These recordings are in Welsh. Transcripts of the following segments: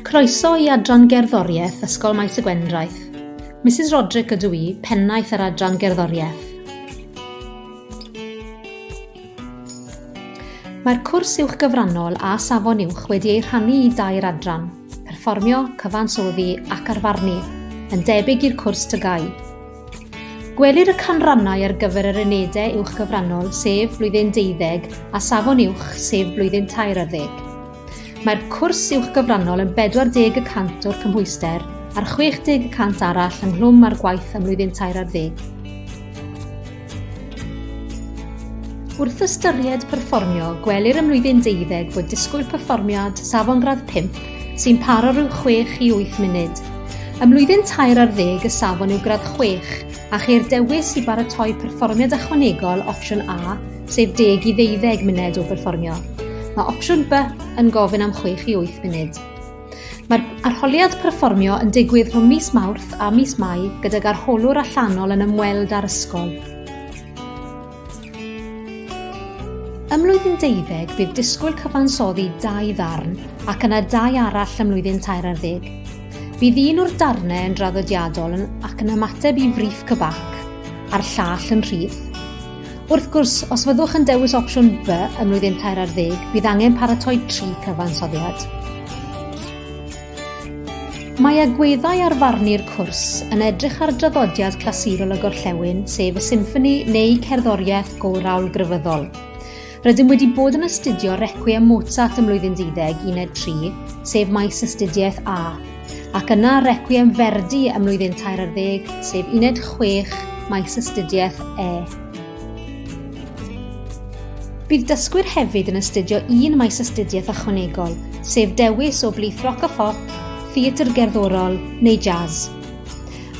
Croeso i Adran Gerddoriaeth Ysgol Maes y Gwendraeth. Mrs Roderick ydw i, pennaeth yr Adran Gerddoriaeth. Mae'r cwrs uwch gyfrannol a safon uwch wedi ei rhannu i dair adran, perfformio, cyfansoddi ac arfarnu, yn debyg i'r cwrs tygau. Gwelir y canrannau ar gyfer yr unedau uwch gyfrannol, sef blwyddyn deuddeg, a safon uwch, sef blwyddyn tair ar ddeg. Mae'r cwrs uwch gyfrannol yn 40 y cant o'r cymhwyster a'r 60 y cant arall ynghlwm â'r gwaith am flwyddyn tair ar ddeg. Wrth ystyried perfformio, gwelir ym mlwyddyn deuddeg fod disgwyl perfformiad safon gradd 5 sy'n paro rhyw 6 i 8 munud. Ym mlwyddyn tair ar ddeg y safon yw gradd 6 a cheir dewis i baratoi perfformiad ychwanegol opsiwn A, sef deg i ddeuddeg munud o berfformio. Mae opsiwn B yn gofyn am 6 i 8 munud. Mae'r arholiad perfformio yn digwydd rhwng mis Mawrth a mis Mai gydag arholwr allanol yn ymweld â'r ysgol. Ym mlwyddyn deuddeg, bydd disgwyl cyfansoddi dau ddarn ac yna dau arall ym mlwyddyn tair ar ddeg. Bydd un o'r darnau yn draddodiadol yn, ac yn ymateb i frif cybac, a'r llall yn rhydd. Wrth gwrs, os fyddwch yn dewis opsiwn B ym mlwyddyn tair ar ddeg, bydd angen paratoi tri cyfansoddiad. Mae agweddau ar farnu'r cwrs yn edrych ar draddodiad clasurol y gorllewin, sef y symffoni neu cerddoriaeth gorawl grefyddol. Rydym wedi bod yn astudio Requiem Mozart ym mlwyddyn 12, uned 3, sef maes astudiaeth A, ac yna Requiem Verdi ym mlwyddyn 13, sef uned 6, maes astudiaeth E. Bydd dysgwyr hefyd yn astudio un maes astudiaeth ychwanegol, sef dewis o blith roc a phop, theatr gerddorol neu jazz.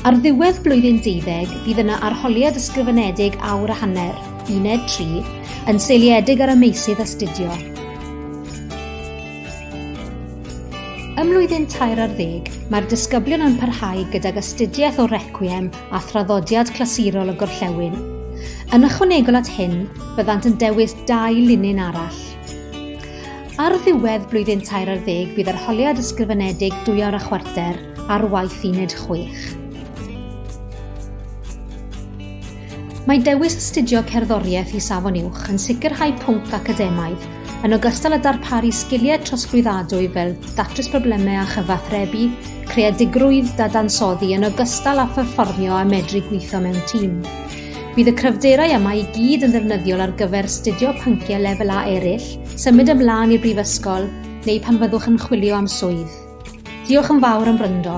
Ar ddiwedd blwyddyn deuddeg, bydd yna arholiad ysgrifenedig awr a hanner, uned 3, yn seiliedig ar y meysydd astudio. Ym mlwyddyn tair ar ddeg, mae'r disgyblion yn parhau gydag astudiaeth o Requiem a thraddodiad clasurol y gorllewin. Yn ychwanegol at hyn, byddant yn dewis dau linyn arall. Ar ddiwedd blwyddyn tair ar ddeg bydd arholiad ysgrifenedig dwy awr a chwarter ar waith uned chwech. Mae dewis astudio cerddoriaeth i safon uwch yn sicrhau pwnc academaidd yn ogystal â darparu sgiliau trosglwyddadwy fel datrys problemau a chyfathrebu, creadigrwydd, dadansoddi yn ogystal â pherfformio a medru gweithio mewn tîm. Bydd y cryfderau yma i gyd yn ddefnyddiol ar gyfer astudio pynciau lefel A eraill, symud ymlaen i'r brifysgol, neu pan fyddwch yn chwilio am swydd. Diolch yn fawr am wrando.